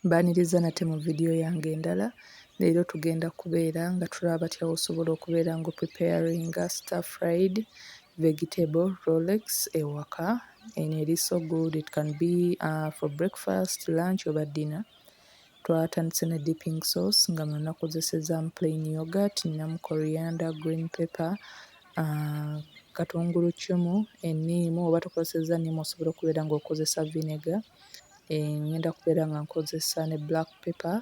Mbaaniriza nate mu video yange endala. Leero tugenda kubeera nga tulaba batya wosobola okubeera nga opreparinga star fried vegetable rolex ewaka and it is so good it can be uh, for breakfast lunch oba dinner twatandise ne dipping sauce nga muno nakozesezamu plain yogurt ninamu coriander green pepper uh, katungulu cumu eniimu oba tokozeseza niimu osobola okubeera nga okozesa vinegar ngenda kubeera nga nkozesa ne black paper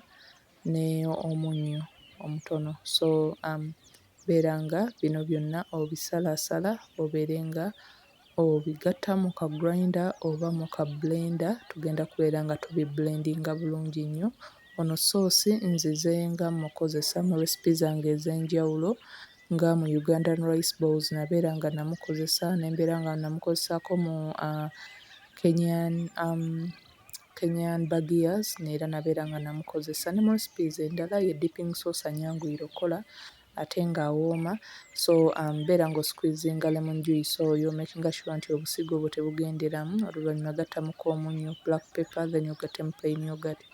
ne omunnyo omutono so beera nga bino byonna obisalaasala obeere nga obigatta mu ka grinder oba mu ka blender tugenda kubeera nga tubibbulendinga bulungi nnyo. Ono ssoosi nzize nga mmukozesa mu recipe zange ez'enjawulo nga mu Ugandan rice bowls nabeera nga namukozesa ne mbeera nga namukozesaako mu Kenyan Kenyan bagiyazi zino era nabeera nga namukozesa ne mu recipes endala ye dipping source anyanguyira okkola ate nga awooma so beera nga osikwizinga lemon juice oyo omekinga shuwa nti obusigo obwo tebugenderamu oluvannyuma gattamuko omunnyo, black pepper then ogattemu plain yoghurt.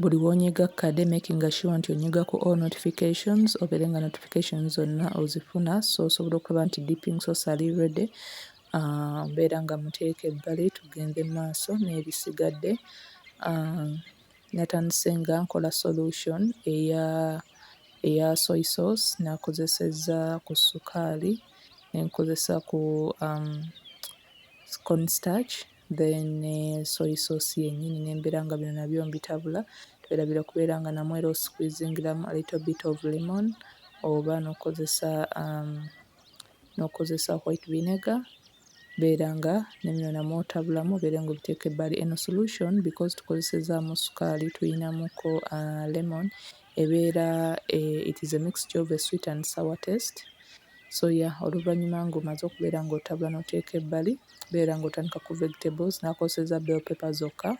Buli w'onyiga kkade makinga sure nti onyiga ku all notifications obeere nga notifications zonna ozifuna so osobola okulaba nti deeping sosali ready ah, mbeera nga muteeka ebbali tugende mu maaso n'ebisigadde ah, natandise nga nkola solution eya eya soy sauce nakozesezza ku sukaali nenkozesa ku um, corn starch then ne soy sauce yenyini nembera nga bino nabyo mbitabula twerabira okubeera nga namwo era osqueezingiramu a little bit of lemon oba nokozesa um, nokozesa white vinegar beera nga nemino namwo otabulamu obeere nga obiteeka ebbali eno solution because tukozesezaamu sukaali tuyinamuko uh, lemon ebeera eh, it is a mixture of a sweet and sour taste so ya yeah, oluvannyuma ng'omaze okubeera ng'otabula n'oteeka ebbali beera ng'otandika ku vegetables n'akozeseza bell pepper zokka.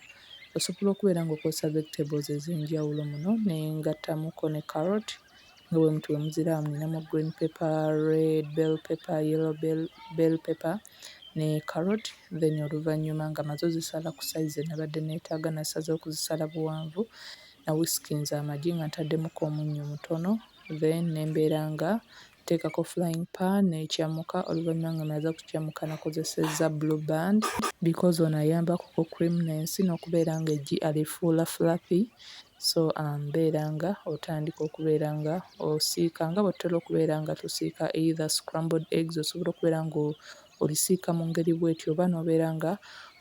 Osobola okubeera ng'okozesa vegetables ez'enjawulo muno ne ngattamuko ne carrot nga bwe muti bwe muziraba mulinamu green pepper, red bell pepper, yellow bell bell pepper ne carrot then oluvannyuma nga maze ozisala ku size ze nabadde neetaaga nasaze okuzisala buwanvu na whiskinze amagi nga ntaddemukko omunnyo mutono then ne mbeera nga Teekako flying pan n'ecammuka oluvannyuma nga omaze okucammuka nakozesezza blue band because ono ayambako ku creamness n'okubeera nga eggi alifuula fluffy so mbeera nga otandika okubeera nga osiika nga bwetutera okubeera nga tusiika either scrambled eggs osobola okubeera nga olisiika mu ngeri bwetyo oba n'obeera nga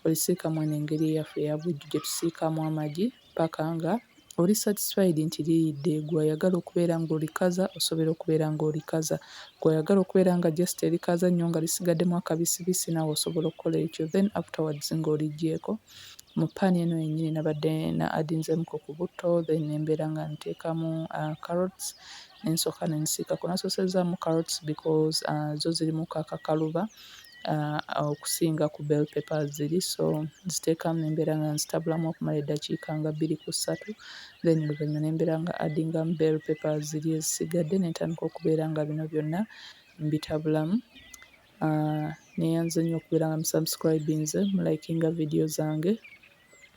olisiika mweno engeri eyaffe eya bulijjo gyetusiikamu amagi. paka nga oli satisfied nti liyidde gwe ayagala okubeera nga olikaza osobera okubeera nga olikaza gwe ayagala okubeera nga just elikaza nyo nga lisigademu akabisibisi nawe osobola okukola ekyo then afterwards nga olijjeeko mu pan eno yenyini nabadde na adinzemuko ku butto then nembeera nga nteekamu uh, carrots nensooka nensiikako nasosezaamu carrots because uh, zo zirimuko akakaluba okusinga ku bell paper ziri so nziteeka mu embeera nga nzitabulamu okumala eddakiika nga bbiri ku ssatu then oluvanyuma ne mbeera nga addingamu bell paper ziri ezisigadde ne ntandika okubeera nga bino byonna mbitabulamu. Nneeyanza nnyo okubeera nga musubscribinze, mulayikinga vidiyo zange.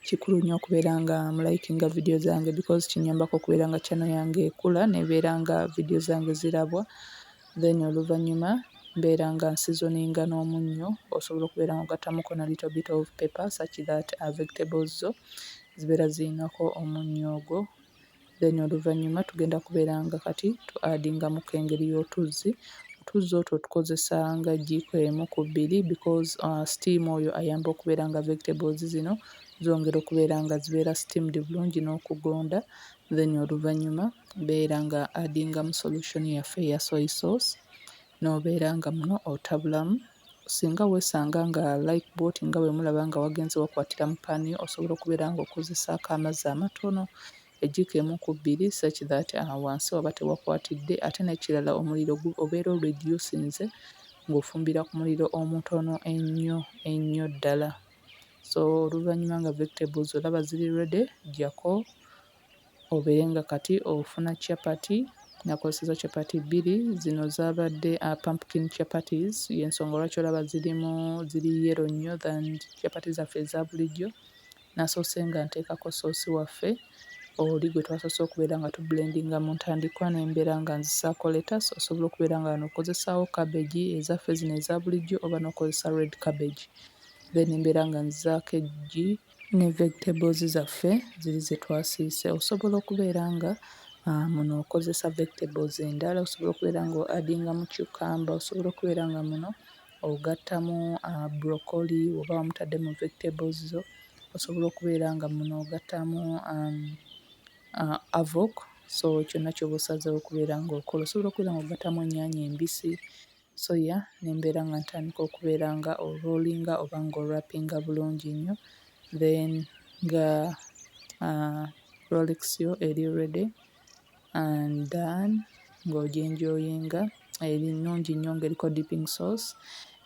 Kikulu nnyo okubeera nga mu likinga vidiyo zange because kinyambako okubeera nga channel yange ekula nebeera nga vidiyo zange zirabwa then oluvannyuma mbeera nga nsizoninga n'omunnyo osobola okubeera nga ogattamuko na little bit of paper such that uh, vegetables zo zibeera zirinako omunnyo ogwo then oluvannyuma tugenda kubeera nga kati tu addingamuko engeri y'otuzzi otuzzi otwo tukozesa nga jjiiko emu ku bbiri because uh, steam oyo ayamba okubeera nga vegetables zino zongera okubeera nga zibeera steamed bulungi n'okugonda then oluvannyuma beera nga addingamu solution yaffe eya soy sauce n'obeera nga muno otabulamu Singa weesanga nga Lifeboat nga bwe mulaba nga wagenze wakwatira mu ppani osobola okubeera ng'okozesaako amazzi amatono ejjiiko emu ku bbiri such that wansi waba tewakwatidde ate n'ekirala omuliro gu obeera oredusinze ng'ofumbira ku muliro omutono ennyo ennyo ddala. So oluvannyuma nga vegetables olaba ziri ready, ggyako. obeere nga kati ofuna chapati. Nakozesezza chapati bbiri, zino zaabadde pumpkin chapatis y'ensonga lwaki olaba zirimu ziri yellow nnyo than chapati zaffe eza bulijjo. Nasoose nga nteekako ssoosi waffe oli gwe twasoose okubeera nga tubbulendinga mu ntandikwa ne mbeera nga nzisaako lettuce. Osobola okubeera nga wano okozesaawo cabbage ezaffe zino eza bulijjo oba n'okozesa red cabbage. Then mbeera nga nzizaako eggi. ne vegetables zaffe ziri ze twasiise. Osobola okubeera nga uh, muno okozesa vegetables endala, osobola okubeera nga adinga mu cucumber, osobola okubeera nga muno ogattamu uh, broccoli oba wamutadde mu vegetables zo, osobola okubeera nga muno ogattamu um, uh, avok so kyonna kyoba osazeewo okubeera nga okola. Osobola okubeera nga ogattamu ennyaanya embisi soya ne mbeera nga ntandika okubeera nga orolinga oba nga orapinga bulungi nnyo then nga uh, rolex yo eri ready and then ng'ojenjoyinga eri nnungi nnyo ng'eriko dipping sauce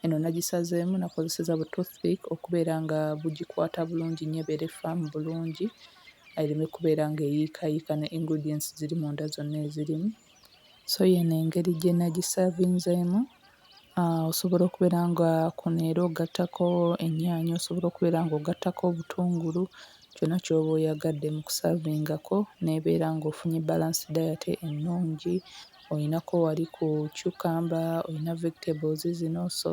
eno nagisazeemu nakozeseza bu toothpick okubeera nga bugikwata bulungi nnyo ebeere faamu bulungi ereme kubeera ng'eyiikayiika ne ingredients ziri munda zonna ezirimu so yeno engeri gyenagisavinzemu osobola okubeera nga kuno era ogattako ennyaanya osobola okubeera nga ogattako obutungulu kyona kyoba oyagadde mu kusavingako nebeera nga ofunye balanced diet ennungi olinako wali ku cucumber olina vegetables zino so